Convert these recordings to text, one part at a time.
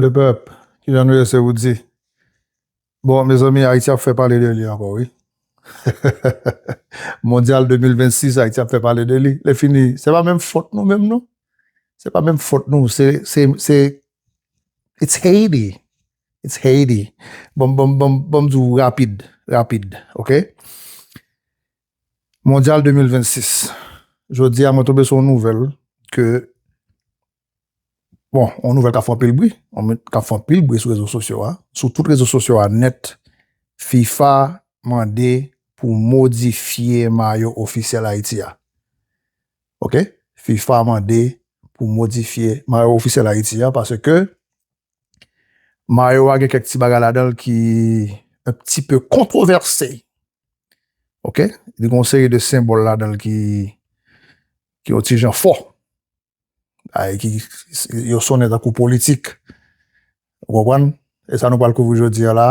Le pèp, kijan nou ye se Roody? Bon mezanmi Ayiti ap fè pale de li ankò wi Mondyal 2026 Ayiti ap fè pale de li lè fini se pa menm fòt nou menm non se pa menm fòt nou se se se it's Haiti it's Haiti banm banm banm banm di w rapid rapid ok Mondyal 2026 jodi a mwen tonbe sou yon nouvèl ke Bon, yon nouvèl kap fè anpil bri, yon nouvèl kap fè anpil bri sou rezo sosyo a, sou tout rezo sosyo a nèt, fifa mande pou modifye mayo ofisyèl Ayiti a. Ok, fifa mande pou modifye mayo ofisyèl Ayiti a paske mayo a gen kèk ti bagay ladan l ki un pti peu kontrovèse. Ok, li gen yon seri de senbòl ladan l ki yon ti jan fò. Bagay ki yo sonnen tankou politik. Ou konprann? E sa nou pral kouvri jodi a la,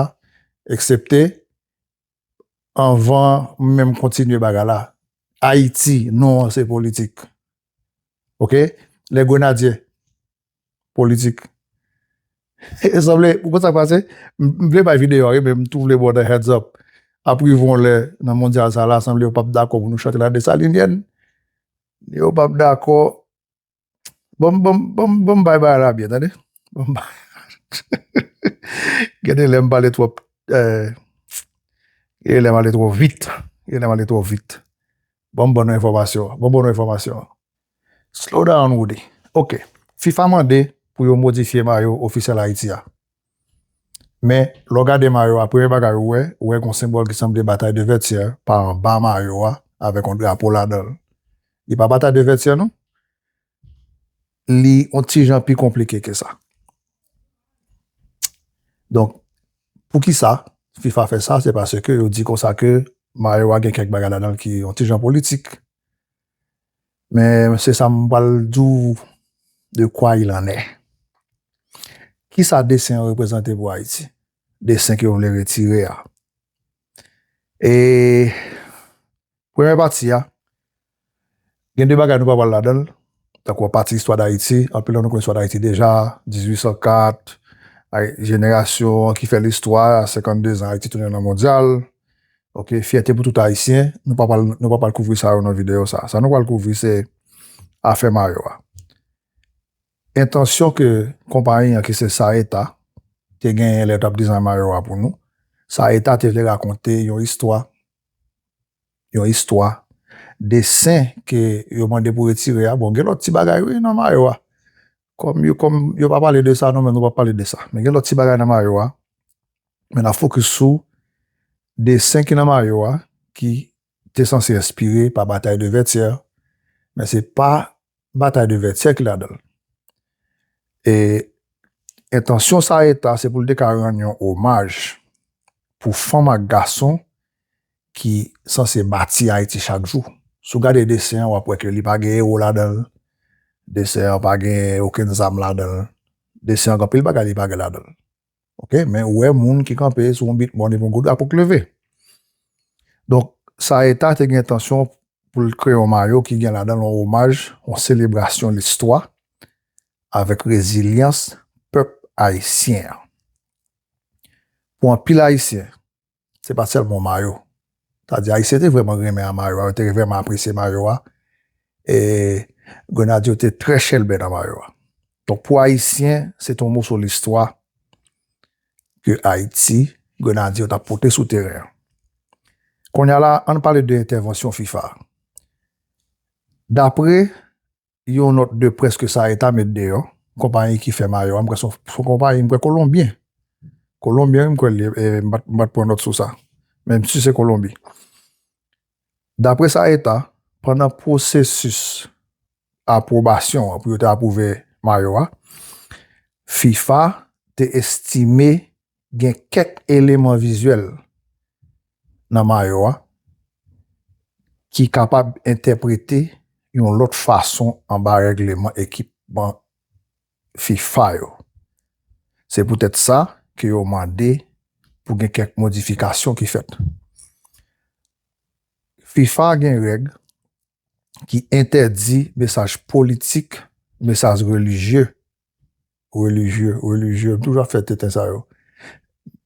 eksepte anvan m menm kontinye bagay la, Ayiti, non an se politik. Ok? Lè Grenadye, politik. E sanble, ou konn sa k pase? M vle bay videyo a wi men m tou vle ba w de heads up. Ap rive yon lè nan mondyal sa la, sanble yo pap dakò pou nou chante la Dessalinienne. Neo pap dakò Bon bon bay bagay la byen tande Gade lèm pale twòp Gade lèm ale twò vit Gade lèm ale twò vit Bon bon enfòmasyon Bon bon enfòmasyon Slow down Roody Ok Fifa mande pou yo modifye mayo ofisyèl Ayiti a Men, lè w gade mayo a, premye bagay ou wè, ou wè gen yon senbòl ki sanble Bataille de Vertières pa anba mayo a avèk yon drapo ladan l. Li pa Bataille de Vertières non. Li yon ti jan pi konplike ke sa. Donk, pou ki sa fifa fè sa? Se paske yo di kon sa ke mayo a gen kèk bagay ladan l ki yon ti jan politik. Men se sa m pral di w de kwa il an è. Ki sa desen an reprezante pou Ayiti? Desen ke yo vle retire a. E premye pati a, gen de bagay nou pa pral ladan l, tankou an pati istwa Dayiti, anpil nan nou konnen istwa Dayiti deja, 1804, jenerasyon ki fè listwa, 52 zan Ayiti tounen nan mondyal, Ok fyète pou tout ayisyen, nou pa pral nou pa pral kouvri sa yo nan videyo sa, sa nou pral kouvri se afè mayo a. Entansyon ke konpayi an ki se Saeta te genyen lè yo tap dizay mayo a pou nou, Saeta te vle rakonte yon istwa, yon istwa, desen ke yo mande pou retire a, bon gen lòt ti bagay wi nan mayo a, Kòm yo kòm yo pa pale de sa nou menm nou pap pale de sa men gen lòt ti bagay nan mayo a men nap fokis sou desen ki nan mayo a ki te sanse enspire pa batay de vètyè men se pa batay de vètyè ki ladan l e entansyon sa eta se pou l te ka rann yon omaj pou fanm ak gason ki sanse bati Ayiti chak jou. Si w gade desen an, w ap wè ke li pa gen ewo ladan l, desen an pa gen okenn zam ladan l, desen an gen anpil bagay li pa gen ladan l. Ok, men ou wè moun ki kanpe sou yon bit mòn epi yon gwo drapo ki leve. Donk, sa eta te gen entansyon pou l kreye yon mayo ki gen ladan l yon omaj, yon selebrasyon listwa avèk rezilyans pèp ayisyen an. Pou anpil Ayisyen, se pa t sèlman mayo. Sa di Ayisyen te vrèman renmen a mayo a, yo te vrèman apresye mayo a. E Grenadye yo te trè chèlbè nan mayo a. Donk pou Ayisyen, se te yon moso listwa ke Ayiti, Grenadye yo t ap pote sou teren an. Kounye a la, ann pale de entèvansyon fifa. Dapre Yon nòt de près ke Sae ta met deyò, konpayi ki fè mayo a, m kwè se yon konpayi, m kwè Kolonbyen, Kolonbyen wi m kwè l ye, m pa t pran nòt sou sa, men m si se Kolonbi. Dapre Sae ta, pandan pwosesis apwobasyon an, pou yo te apwouve mayo a, fifa te estime gen kèk eleman vizyèl nan mayo a ki kapab entèprete yon lòt fason anba règleman ekipman fifa yo. Se poutèt sa ke yo mande pou gen kèk modifikasyon ki fèt. Fifa gen règ ki entèdi mesaj politik, mesaj relijye Relijye, relijye, m toujou ap fè tenten sa yo.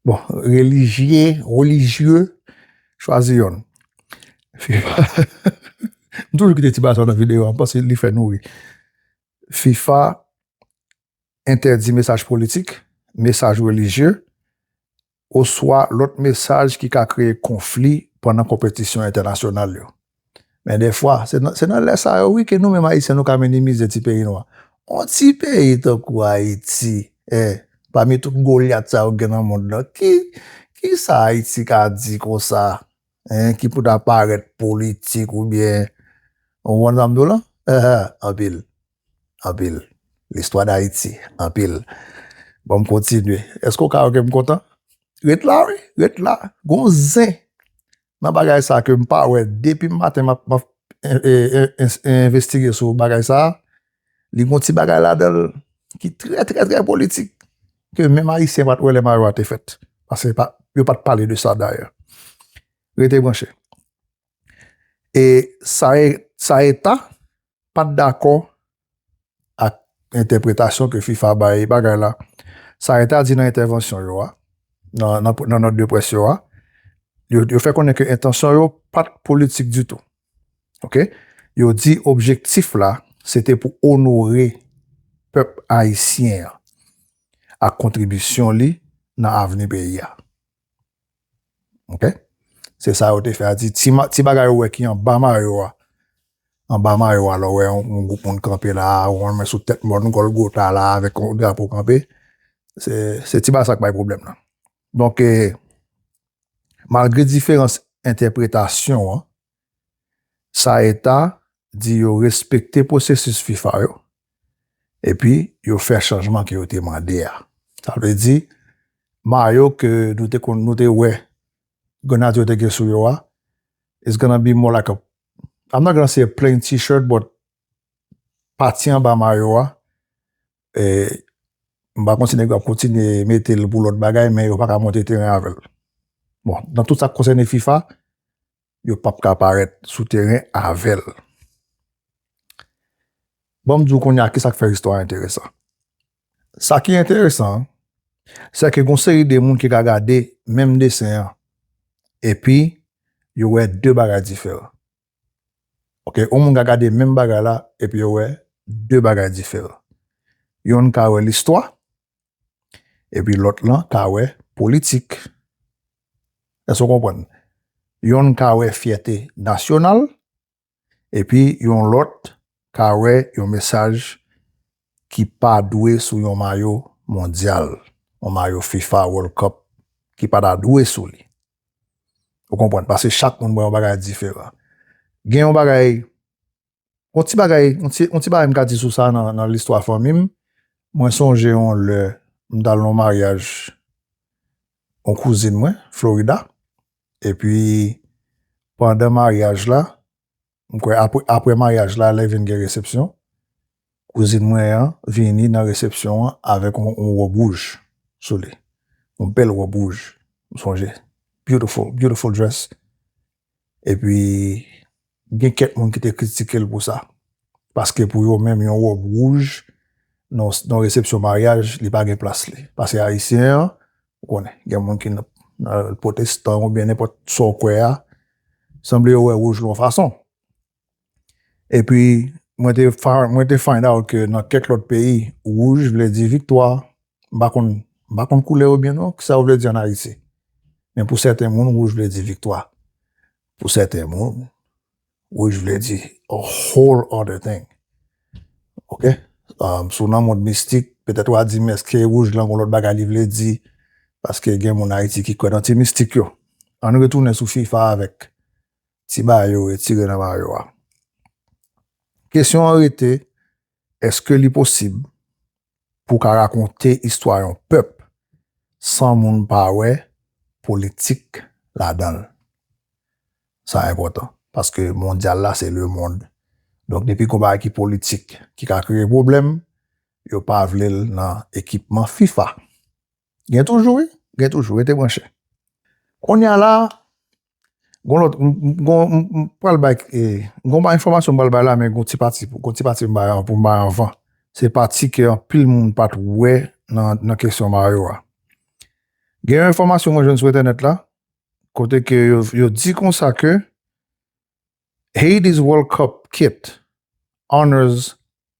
Bon, relijye, relijye, chwazi yonn. FIFA, m toujou kite ti bagay sa yo nan videyo a, m panse li fè nou ri. FIFA entèdi mesaj politik, mesaj relijye, oswa lòt mesaj ki ka kreye konfli pandan konpetisyon entènasyonal yo. Men dèfwa, se nan lè sa yo wi ke nou menm Ayisyen nou ka minimize ti peyi nou an. On ti peyi tankou Ayiti, eh! Pami tout Golyat sa yo gen nan mond lan, ki, ki sa Ayiti ka di konsa, eh, ki pou ta parèt politik oubyen, ou konprann sa m di w lan? Ehh, anpil. anpil listwa dayiti anpil bon m kontinye eske w ka wè ke m kontan ret la wi ret la gon zen nan bagay sa ke m pa wè depi m maten m ap envestige sou bagay sa li gon ti bagay ladan l ki trè trè trè politik ke menm ayisyen pat wè lè mayo a te fèt pase yo pat pale de sa dayè rete branche E Saeta pat dakò ak entèpretasyon ke fifa bay bagay la. Saeta di nan entèvansyon yo a, nan nòt de près yo a, yo fè konnen ke entansyon yo pat politik ditou. Ok. Yo di objektif la se te pou onore pèp ayisyen an ak kontribisyon li nan avni peyi a. Ok? Se sa yo te fè a di, ti, ti bagay ou wè ki an ba mayo a, an ba mayo a, lò wè yon, yon gwoup moun kanpe la, ou wè sou tèt mòn Gòlgota la avèk yon drapo kanpe, se, se ti bagay sa k bay pwoblèm nan. Donk e, malgre diferans entèpretasyon an, Saeta di yo respekte pwosesis fifa yo epi yo fè chanjman ke yo te mande a. Sa vle di mayo ke nou te konn nou te wè Grenadye yo te gen sou yo a it's gonna be more like a I'm not gonna say a plain t-shirt but pati anba mayo a m pa konn si nèg yo ap kontinye mete l pou lòt bagay men yo pa ka monte teren avè l. Bon nan tout sa k konsène fifa yo pap ka parèt sou teren avè l. Ban m di w kounye a ki sa k fè istwa a enteresan. Sa ki enteresan an, se ke gon seri de moun ki ka gade menm desen an epi yo wè de bagay diferan. Ok, yon moun ka gade menm bagay la epi yo wè de bagay diferan. Yonn ka wè listwa, Epi lòt lan ka wè politik. Èske w konprann? Yonn ka wè fyète nasyonal, epi yon lòt ka wè yon mesaj ki pa dwe sou yon mayo mondyal, yon mayo fifa World Cup ki pa ta dwe sou li. Ou konprann? Paske chak moun wè yon bagay diferan. Gen yon bagay. On ti bagay, on ti, on ti bagay m ka di sou sa nan, nan listwa fanmi m, mwen sonje on lè m t al nan on maryaj on kouzin mwen, Florida, epi pandan maryaj la, m kwè apre, apre maryaj la lè vin gen resepsyon, kouzin mwen an vini nan resepsyon an avèk on, on wòb wouj sou li, on bèl wòb wouj, m sonje, beautiful, beautiful dress, Epi gen kèk moun ki te kritike l pou sa. Paske pou yo menm yon wòb wouj nan resepsyon maryaj li pa gen plas li. Pase ayisyen an, ou konnen, gen moun ki nan pwotestan oubyen nenpòt sa w kwè a, sanble yo wè wouj l yon fason. E pi mwen te mwen te find out ke nan kèk lòt peyi wouj vle di viktwa, m pa konn m pa konn koulè yo byen non, kisa yo vle di an Ayiti. Men pou sèten moun wouj vle di viktwa. Pou sèten moun wouj vle di a whole other thing ok si w nan mond mistik petèt wa di m èske wouj lan gon lòt bagay li vle di paske gen moun Ayiti ki kwè nan ti mistik yo. Ann retounen sou fifa avèk Ti mayo retire nan mayo a. Kesyon an rete, èske li posib pou w ka rakonte istwa yon pèp san moun pa wè politik ladan l? Sa enpòtan, paske mondyal la se lemond. Donk depi gon bagay ki politik ki ka kreye pwoblèm, yo pa vle l nan ekipman fifa. Gen toujou wi, gen toujou, rete branche. Kounye a la, Gon lòt, m gon, m pral bay, gon ba enfòmasyon m pral bay la men gon ti pati, gon ti pati m bay pou m bay anvan. Se pati ke anpil moun pat wè nan kesyon Mario a. Gen yon enfòmasyon mwen jwenn sou entènèt la, kote ke yo di konsa ke Haiti's World Cup kit honors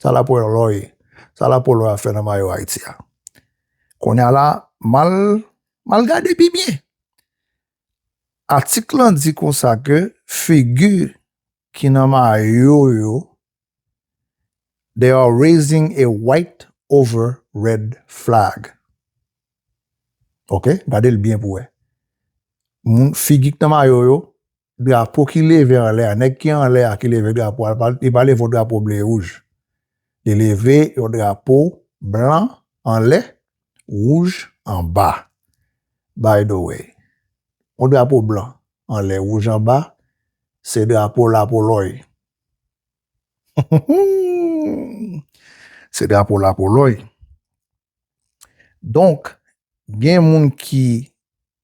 Sa lapo yon lò ye? Sa lapo lò a fè nan mayo Ayiti a? Kounye a la, m al, m al gade pi byen. Atik lan di konsa ke figi ki nan mayo yo, They are raising a white over red flag. Ok, gade l byen pou wè. Moun, figi ki nan mayo yo, drapo ki leve anlè a, nèg ki anlè a ki leve drapo a, li pa leve yon drapo ble e wouj, li leve yon drapo blan anlè, wouj anba. By the way, yon drapo blan anlè, wouj anba, se drapo Lapolòy. Se drapo Lapolòy. Donk, gen moun ki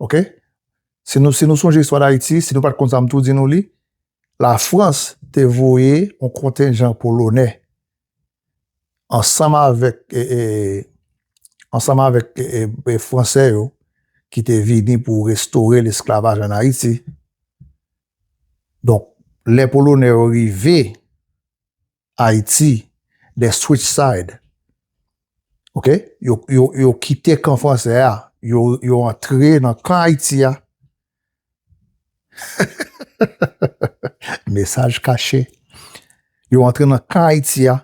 Ok si nou si nou sonje istwa dayiti si nou pat konn sa m tou di nou li la frans te voye yon kontenjan polonè ansanm avèk e e ansanm avèk e e e fransè yo ki te vini pou restore lesklavaj an ayiti donk lè polonè yo rive Ayiti, they switch side, ok, yo kite kan franse a, yo antre nan kan Ayiti a, mesaj kache, yo antre nan kan Ayiti a,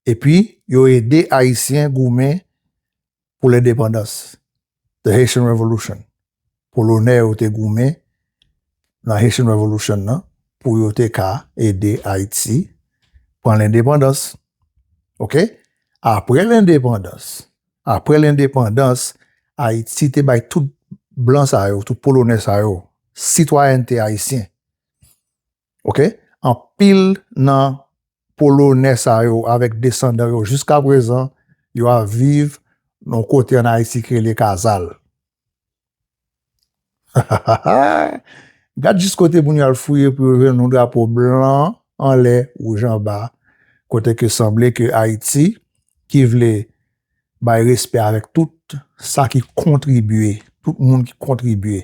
epi yo ede Ayisyen goumen pou lendepandans, The Haitian Revolution, Polonè yo te goumen nan Haitian Revolution nan pou yo te ka ede Ayiti pran lendepandans. Ok? Apre lendepandans, apre lendepandans, Ayiti te bay tout blan sa yo, tout Polonè sa yo, sitwayènte Ayisyen. Ok anpil nan polonè sa yo avèk desandan yo jiska prezan yo ap viv yon kote an Ayiti ki rele Kazal. Gad jis kote moun yo al fouye pou yo jwenn yon drapo blan anlè wouj anba kote ke sanble ke Ayiti ki vle bay respè avèk tout sa ki kontribye, tout moun ki kontribye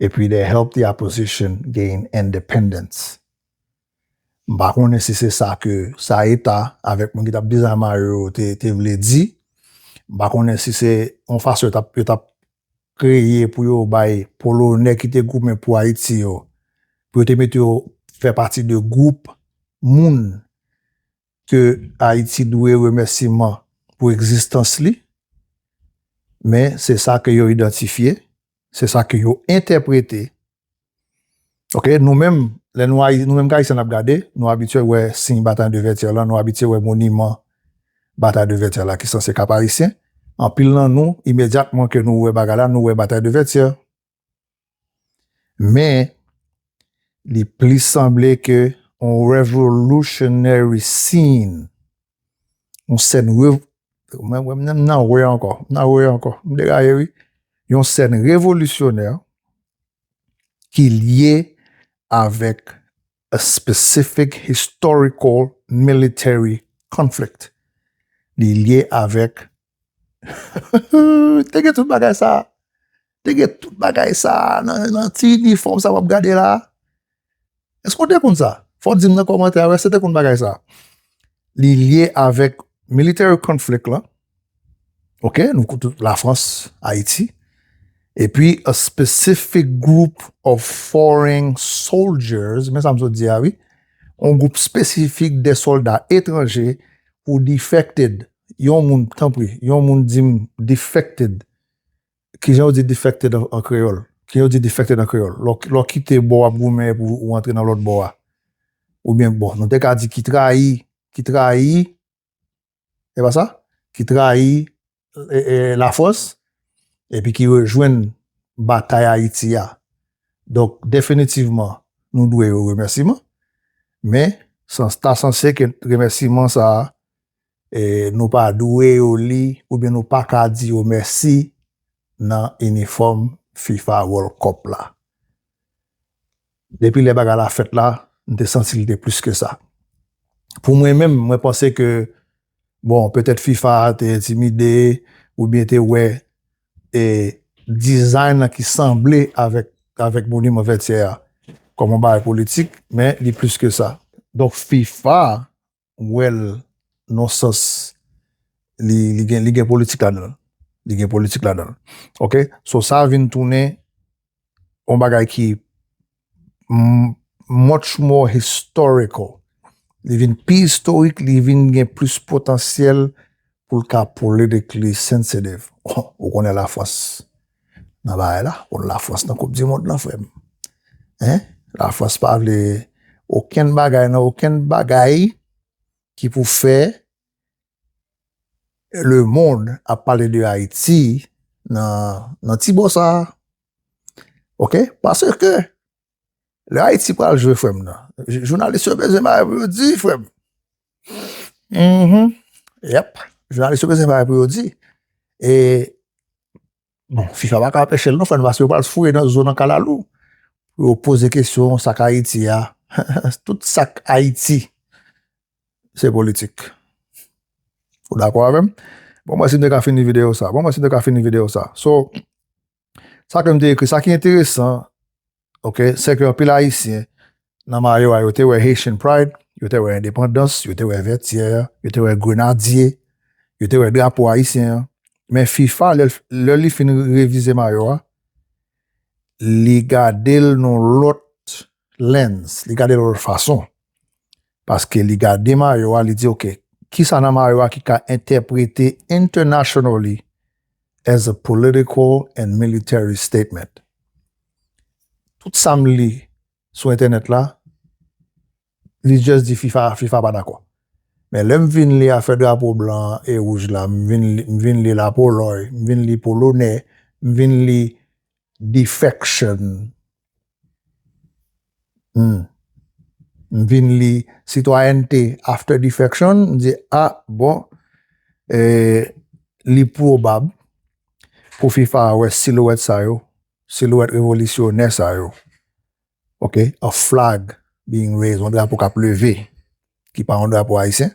epi they help the opposition gain independence. M pa konnen si se sa ke sa eta avèk moun ki t ap dezame yo te vle di, m pa konnen si se yon fason yo t ap kreye pou yo bay Polonè ki te goumen pou Ayiti yo, pou yo te mete yo fè pati de gwoup moun ke Ayiti dwe remèsiman pou egzistans li, men se sa ke yo idantifye, se sa ke yo entèprete. Ok, nou menm, lè nou Ayi, nou menm ke Ayisyen n ap gade, nou abitye wè siy Batay de Vètyè lan, nou abitye wè moniman Batay de Vètyè la ki sanse Kap Ayisyen, anpil nan nou, imedyatman ke nou wè bagay la, nou wè Batay de Vètyè. Men, li plis sanble ke yon revolutionary scene, yon sèn rev... Mwen wè mnen nan wè ankò, nan wè ankò, m deraye wi. Yon sèn revolisyonè ki lye avèk a specific historical military conflict. Li lye avèk Te gen tout bagay sa a. Te gen tout bagay sa a nan ti inifòm sa a w ap gade la a. Èske ou te konn sa? Fò w di m nan kòmantè a èske ou te konn bagay sa a. Li lye avèk military conflict la, ok, nou konn tout Lafrans, Ayiti, epi a specific group of foreign soldiers, se men sa m sot di a wi, yon gwoup espesifik de sòlda etranje who defected Yon moun tanpri yon moun dim defected kijan yo di defected an kreyòl kijan yo di defected an kreyòl lò lè w kite bò wap goumen epi ou antre nan lòt bò a oubyen bon nou te ka di ki trayi ki trayi se pa sa ki trayi lafrans epi ki rejwenn batay ayiti a donk definitivman nou dwe yo remèsiman men sa ta sanse ke remèsiman sa nou pa dwe yo li oubyen nou pa ka di yo mèsi nan inifòm fifa world cup la. Depi lè bagay la fèt la, m te santi li te plis ke sa. Pou mwen menm, mwen panse ke bon, petèt fifa te entimide oubyen te wè e design lan ki sanble avèk avèk moniman Vètyè a kòm yon bagay politik, men li plis ke sa. Donk fifa wèl non sans li gen li gen politik ladanl li gen politik ladanl ok so sa vin tounen yon bagay ki much more historical li vin pi istorik li vin gen plis potansyèl poul ka politcally sensitive ou konnen la frans. nan bagay la, wòl la Frans nan koup di mond lan frèm hein, la Frans pa vle okenn bagay nan okenn bagay ki pou fè le mond ap pale de Ayiti nan ti bò sa ok paske Lè Haiti pral jwe frèm nan. Jounalis yo bezwen bagay pou yo di frèm. Mhmm yep jounalis yo bezwen bagay pou yo di e bon fifa pa ka anpeche l non frè m paske yo pral foure nan zo nan kalalou pou yo poze kesyon sak Haiti a tout sak Haiti se politik ou dakò avè m bon mwen si m te ka fini videyo sa bon mwen si m te ka fini videyo sa so. Sa ke m te ekri, sa ki enteresan, ok, se ke anpil Ayisyen nan mayo a yo te wè Haitian Pride, yo te wè endepandans, yo te wè Vètyè, yo te wè Grenadye, yo te wè drapo Ayisyen an. Men fifa, lè li fin revize mayo a, li gade l nan yon lòt lens, li gade l yon lòt fason. paske li gade mayo a li di ok kisa nan mayo a ki ka entèprete internationally as a political and military statement tout sam li sou entènèt la li just di fifa fifa pa dakò men lèm vin li afè drapo blan e wouj la m vin li m vin li la poloy m vin li polonè m vin li defection. Humm. M vin li sitwayènte after defection, m di a bon li pwobab pou fifa a wè silwèt sa yo, silwèt revolisyonè sa yo, ok, a flag being raised, yon drapo k ap leve ki pa yon drapo ayisyen.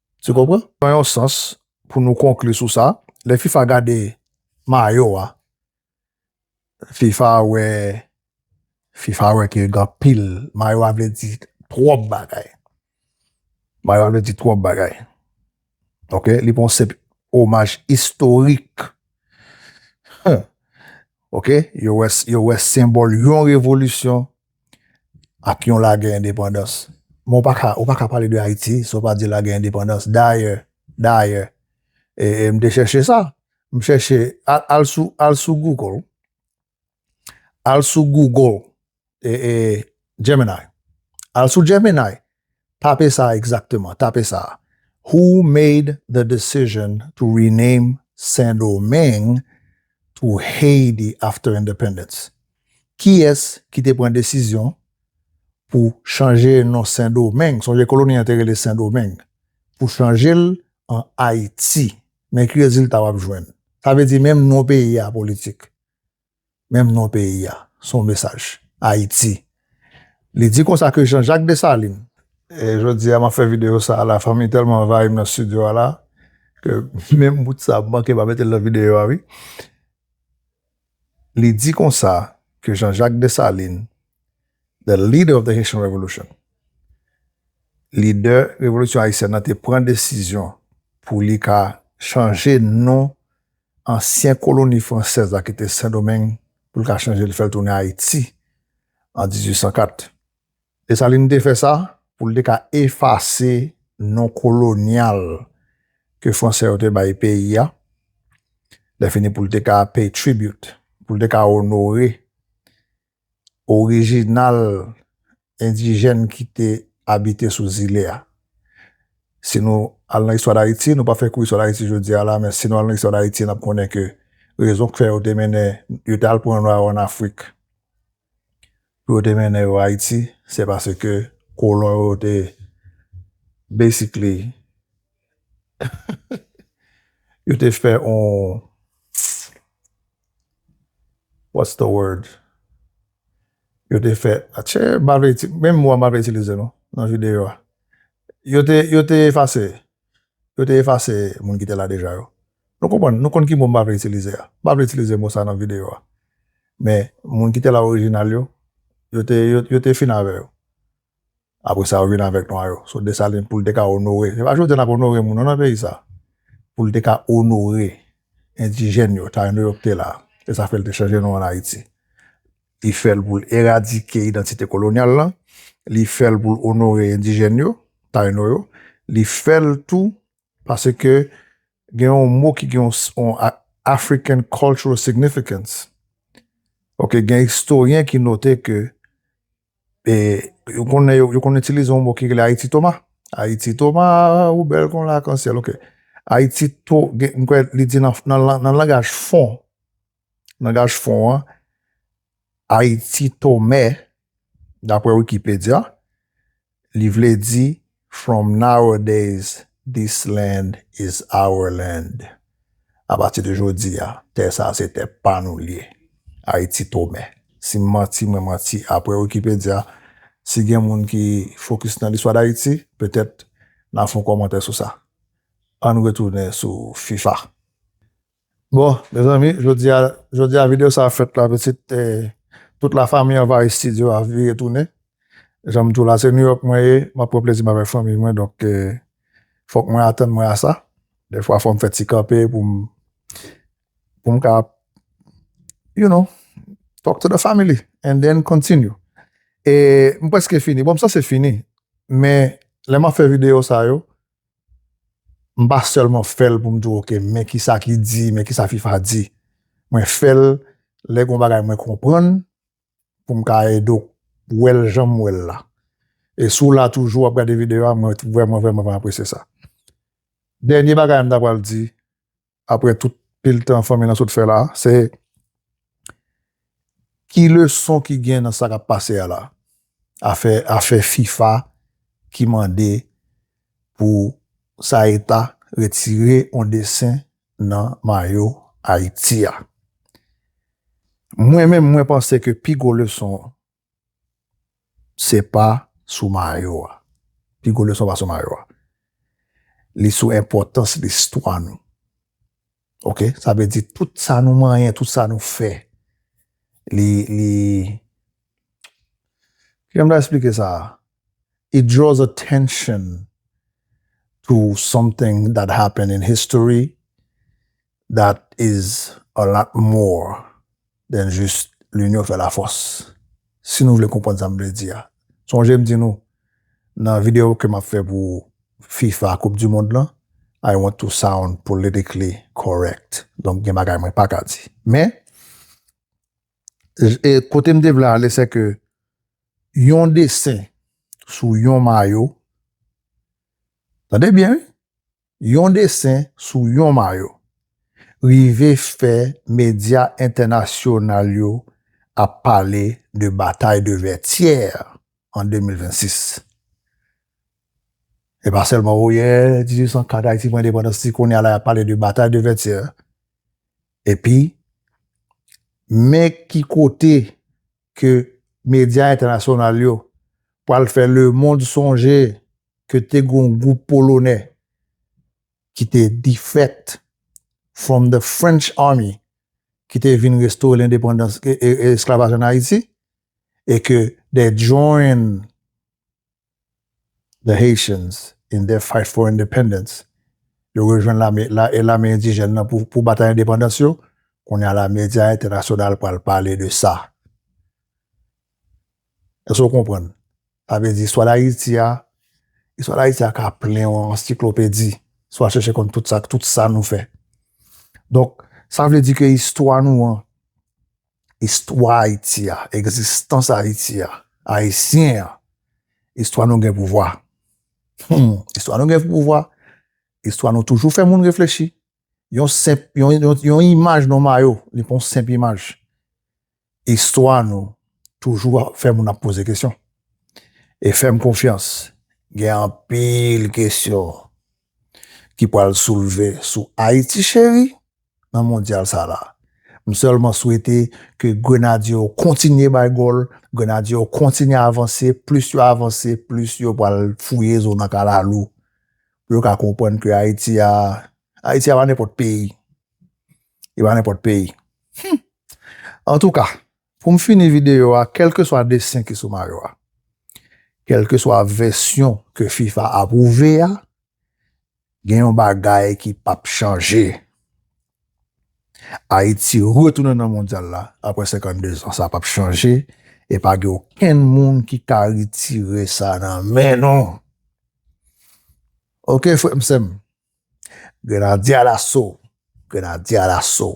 Tu konpran? Nan yon sans, pou nou konkli sou sa, lè fifa gade mayo a, fifa wè, fifa wè ke gen anpil, mayo a vle di twòp bagay. Mayo a vle di twòp bagay. Ok, li pa yon senp omaj istorik. Ok, yo wè, yo wè senbòl yon revolisyon, ak yon lagè endepandans. Men ou pa ka, ou pa ka pale de Ayiti san w pa di lagè endepandans. Dayè, dayè, e, e m te chèche sa, m chèche, al, al sou, al sou Google, al sou Google, e, e, Gemini, al sou Gemini. Tape sa a egzakteman, tape sa a, Who made the decision to rename Sendomeng to Haiti after independence? Kiyès ki te pran desizyon pou chanje non Sendomeng, sonje koloni an te rele Sendomeng, pou chanje l an Ayiti? Men ki rezilta w ap jwenn. Sa vle di menm non peyi a politik. Menm non peyi a, se yon mesaj. Ayiti. Li di konsa ke Jean Jacques Dessalines. E jodi a m ap fè videyo sa a la, fanmi tèlman anvayi m nan stidyo a la, ke menm bout sa a m manke pa mete l nan videyo a wi. Li di konsa ke Jean Jacques Dessalines, the leader of the Haitian Revolution, lidè revolisyon ayisyèn nan te pran desizyon pou li ka chanje non ansyen koloni fransèz la ki te Sendomeng pou l ka chanje l fè l tounen Ayiti an 1804. Desalin te fè sa pou l te ka efase non kolonyal ke Fransè yo te bay peyi a, lèfini pou l te ka pay tribute, pou l te ka onore orijinal endijèn ki te abite sou zile a. Si nou al nan istwa Dayiti, nou pa fè kou istwa Dayiti jodi a la, men si nou al nan istwa Dayiti, n ap konnen ke rezon k fè yo te mennen, yo te al pran nwa yo ann Afrik, pou yo te mennen yo Ayiti, se paske kolon yo te basically yo te fè yon. What's the word yo te fè atche mpa vle iti menm mo a mpa vle itilize non nan videyo a yo te yo te efase yo te efase moun ki te la deja yo nou konprann nou konn ki mo mpa vle itilize a mpa vle itilize mo sa nan videyo a men moun ki te la orijinal yo yo te yo te fin avè yo. Apre sa yo vin avèk nwa yo. So Desalin pou l te ka onore, se pa jodi a n ap onore moun non nan peyi sa, pou l te ka onore endijèn yo, tayino yo ki te la, se sa fè l te chanje non an Ayiti. Li fè l pou l eradike idantite kolonyal lan, li fè l pou l onore endijèn yo, tayino yo, li fè l tou paske gen yon mo ki gen yon African Cultural Significance. Ok gen istoryen ki note ke E yo konnen yo konnen itilize yon mo ki rele Ayiti Toma. Ayiti Toma ou bèl kon lakansyèl ok. Ayiti to gen mwen kwè li di nan langaj fon, langaj fon an, Ayiti Tome, daprè Wikipedya, li vle di From nowadays this land is our land A pati de jodi a, tè sa a se tè pa nou li ye. Ayiti Tome. Si m manti, mwen manti apre Wikipedya. Si gen moun ki fokis nan listwa Dayiti, petèt n a fè yon kòmantè sou sa. Ann retounen sou fifa. Bon mezanmi jodi a jodi a video sa fèt la pitit e tout la fami anvayi studio a vire tounen janm dou la se New York mwen ye map pran plezi m avèk fanmi mwen donk fòk mwen atann mwen a sa dèfwa fòm fè ti kanpe poum poum ka you know talk to the family and then continue e m prèske fini bon m sanse fini men lè map fè video sa yo. m pa sèlman fè l pou m di ok men ki sa ki di, men ki sa fifa di. Mwen fè l lè gen yon bagay mwen konprann pou m ka ede w wè l jan m wè l la. E si w la toujou w ap gade videyo a mwen vrèman vrèman apresye sa. Dènye bagay m ta pral di, aprè tout pil tan fanmi lan sot fè la, se ki leson ki gen nan sa k ap pase a la? Afè, afè fifa ki mande pou Saeta retire yon desen nan mayo Ayiti a. Mwen menm mwen panse ke pi gwo leson Se pa sou mayo a. Pi gwo leson pa sou mayo a. Li sou enpòtans listwa nou. Ok? Sa vle di tout sa nou manyen, tout sa nou fè. Li, li... Ki jan m ta esplike sa a? It draws attention to something that happened in history That is a lot more than jis Linyon fè lafòs. Si nou vle konprann sa m vle di a, sonje m di nou nan videyo ke m ap fè pou fifa koup di mond lan, I want to sound politically correct, donk gen bagay mwen pa ka di. Men, kote m te vle ale se ke yon desen sou yon mayo, tande byen wi, yon desen sou yon mayo, rive fè medya entènasyonal yo ap pale de batay de Vètyè an 2026. Se pa sèlman oyè 1804 Ayiti pran endepandans si kounye a la y ap pale de batay de Vètyè epi men ki kote ke medya entènasyonal yo pral fè lemond sonje ke te gen yon gwoup Polonè ki te defect from the French Army ki te vin restore lendepandans, esklavaj an Ayiti, e ke they joined The Haitians in their fight for independence, yo rejwenn lame e lame endijèn nan pou pou batay endepandans yo, kounye a la medya entènasyonal pral pale de sa. Èske w konprann? Sa vle di istwa Dayiti a, istwa Dayiti a ka plen yon ansiklopedi si w al chèche konn tout sa, tout sa nou fè. Donk, sa vle di ke istwa nou an, istwa Ayiti a, egzistans Ayiti a, Ayisyen an, istwa nou gen pouvwa. Humm, istwa nou gen pouvwa, istwa nou toujou fè moun reflechi. Yon senp, yon imaj nou mayo, li pa yon senp imaj. Istwa nou toujou fè moun ap poze kesyon. E fè m konfyans, gen anpil kesyon ki pral soulve sou Ayiti Cheri. nan mondyal sa la. M sèlman swete ke Grenadye yo kontinye bay gòl, Grenadye yo kontinye avanse, plis yo avanse, plis yo pral fouye zo nan kalalou pou yo ka konprann ke Ayiti a, Ayiti a pa nenpòt peyi. Li pa nenpòt peyi. Hum! Antouka, pou m fini videyo a, kèlkeswa desen ki sou mayo a, kèlkeswa vèsyon ke fifa apwouve a, gen yon bagay ki pap chanje. Ayiti retounen nan mondyal la apre 52 zan. Sa pap chanje e pa gen okenn moun ki ka retire sa nan men nou. Ok frè m sè m. Grenadye alaso. Grenadye alaso.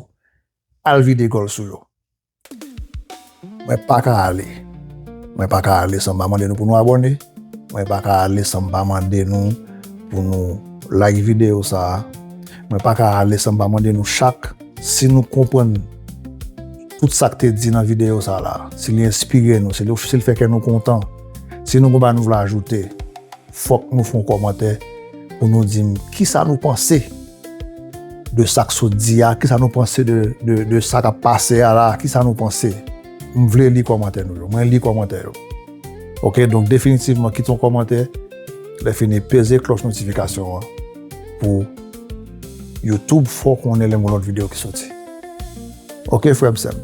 Al vide gòl sou yo. Mwen pa ka ale. Mwen pa ka ale san m pa mande nou pou nou abòne. Mwen pa ka ale san m pa mande nou pou nou like videyo sa a. Mwen pa ka ale san m pa mande nou chak si nou konprann tout sa k te di nan videyo sa la, si li enspire nou, si li fè kè nou kontan, si nou gen yon bagay nou vle ajoute, fòk nou fè yon kòmantè pou nou di m kisa nou panse. de sa k sot di a, kisa nou panse de sa k ap pase a la, kisa nou panse. M vle li kòmantè nou yo. Mwen li kòmantè yo. Ok, donk definitivman kite yon kòmantè, lèfini peze klòch notifikasyon an pou YouTube fè w konnen lè m gen lòt videyo ki soti. Ok frè m sè m.